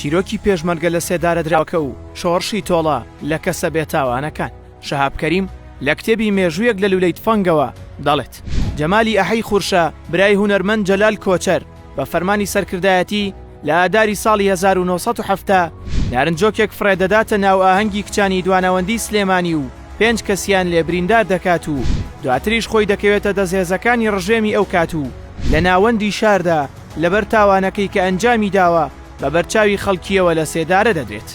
چیرۆکی پێشمەرگە لەسێدارەدراوەکە و شۆڕشی تۆڵە لە کەسە بێتاوانەکان، شەهاب کەریم لە کتێبی مێژوویەک لە لوولەی تفەنگەوە دەڵێت، جەمالی ئەحەی خورشە برای هونەرمەند جەلال کۆچەر بە فەرمانی سەرکردایەتی لە ئاداری ساڵی هەزار و نۆ سەد و حەفتا نارنجۆکێک فڕێ دەداتە ناو ئاهەنگی کچانی دوانەوەندی سلێمانی و پێنج کەسیان لێ بریندار دەکات و دواتریش خۆی دەکەوێتە دەست هێزەکانی ڕژێمی ئەو کات و لە ناوەندی شاردا لەبەر تاوانەکەی کە ئەنجامی داوە بە بەرچاوی خەڵکییەوە لە سێدارە دەبێت.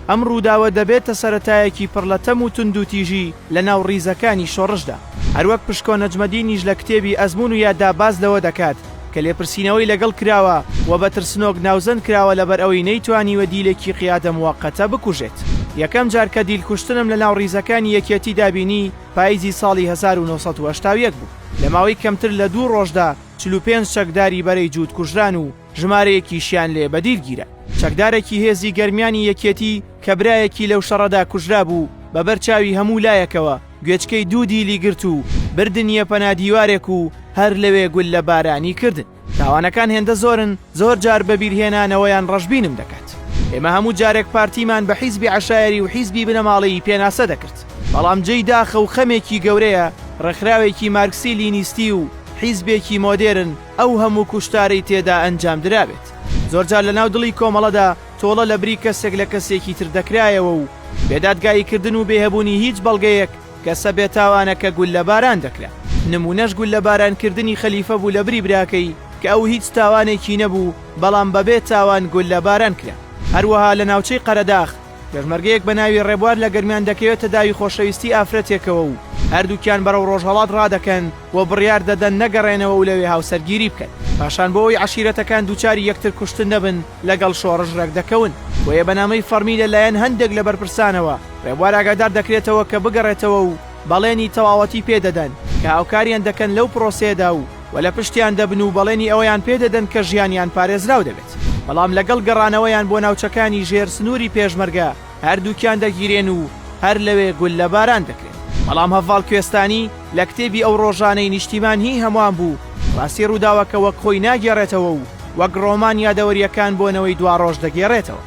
ئەم ڕووداوە دەبێتە سەرەتایەکی پڕ لە تەم و توندوتیژی لە ناو ڕیزەکانی شۆڕشدا. هەروەک پشکۆ نەجمەدینیش لە کتێبی ئەزموون و یاددا باس لەوە دەکات کە لێپرسینەوەی لەگەڵ کراوە و بە ترسنۆک ناوزەند کراوە لەبەر ئەوەی نەیتوانیوە دیلێکی قیادە موەقەتە بکوژێت. یەکەم جار کە دیل کوشتنم لە ناو ڕیزەکانی یەکێتیدا بینی پاییزی ساڵی هەزار و نۆ سەد و هەشتا و یەک بوو. لە ماوەی کەمتر لە دوو ڕۆژدا چل و پێنج چەکداری بەرەی جووت کوژران و ژمارەیەکیشیان لێ بەدیل گیرا. چەکدارێکی هێزی گەرمیانی یەکێتی کە برایەکی لەو شەڕەدا کوژرابوو، بە بەر چاوی هەموو لایەکەوە گوێچکەی دوو دیلی گرت و بردنییە پەنا دیوارێک و هەر لەوێ گوللە بارانی کردن. تاوانەکان هێندە زۆرن، زۆر جار بە بیرهێنانەوەیان ڕەشبینم دەکات. ئێمە هەموو جارێک پارتیمان بە حیزبی عەشایەری و حیزبی بنەماڵەیی پێناسە دەکرد. بەڵام جێی داخە و خەمێکی گەورەیە ڕێکخراوێکی مارکسی لینیستی و، حیزبێکی مۆدێرن ئەو هەموو کوشتارەی تێدا ئەنجام درابێت، زۆرجار لەناو دڵی کۆمەڵەدا تۆڵە لەبری کەسێک لە کەسێکی تر دەکرایەوە و بێ دادگایی کردن و بێ هەبوونی هیچ بەڵگەیەک کەسە بێ تاوانەکە گوللە باران دەکرا، نموونەش گوللە باران کردنی خەلیفە بوو لەبری براکەی کە ئەو هیچ تاوانێکی نەبوو بەڵام بەبێ تاوان گوللە باران کرا. هەروەها لە ناوچەی قەرەداخ، پێشمەرگەیەک بە ناوی ڕێبوار لە گەرمیان دەکەوێتە داوی خۆشەویستی ئافرەتێکەوە و هەردووکیان بەرەو ڕۆژهەڵات ڕادەکەن و بڕیار دەدەن نەگەڕێنەوە و لەوێ هاوسەرگیری بکەن. پاشان بۆ ئەوەی عەشیرەتەکان دووچاری یەکتر کوشتن نەبن لەگەڵ شۆڕش ڕێک دەکەون. بۆیە بە نامەی فەڕمی لە لایەن هەندێک لە بەرپرسانەوە ڕێبوار ئاگادار دەکرێتەوە کە بگەڕێتەوە و بەڵێنی تەواوەتی پێ دەدەن کە هاوکاریان دەکەن لەو پرۆسەیەدا و و لە پشتیان دەبن و بەڵێنی ئەوەیان پێ دەدەن کە ژیانیان پارێزراو دەبێت، بەڵام لەگەڵ گەڕانەوەیان بۆ ناوچەکانی ژێر سنووری پێشمەرگە هەردووکیان دەگیرێن و هەر لەوێ گوللە باران دەکرێن. بەڵام هەڤاڵ کوێستانی لە کتێبی ئەو ڕۆژانەی نیشتیمان هی هەموان بوو ڕاستی ڕووداوەکە وەک خۆی ناگێڕێتەوە و وەک ڕۆمان یادەوەرییەکان بۆ نەوەی دواڕۆژ دەگێڕێتەوە.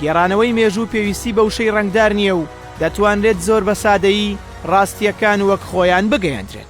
گێڕانەوەی مێژوو پێویستی بە وشەی ڕەنگدار نییە و دەتوانرێت زۆر بە سادەیی ڕاستییەکان وەک خۆیان بگەیەندرێن.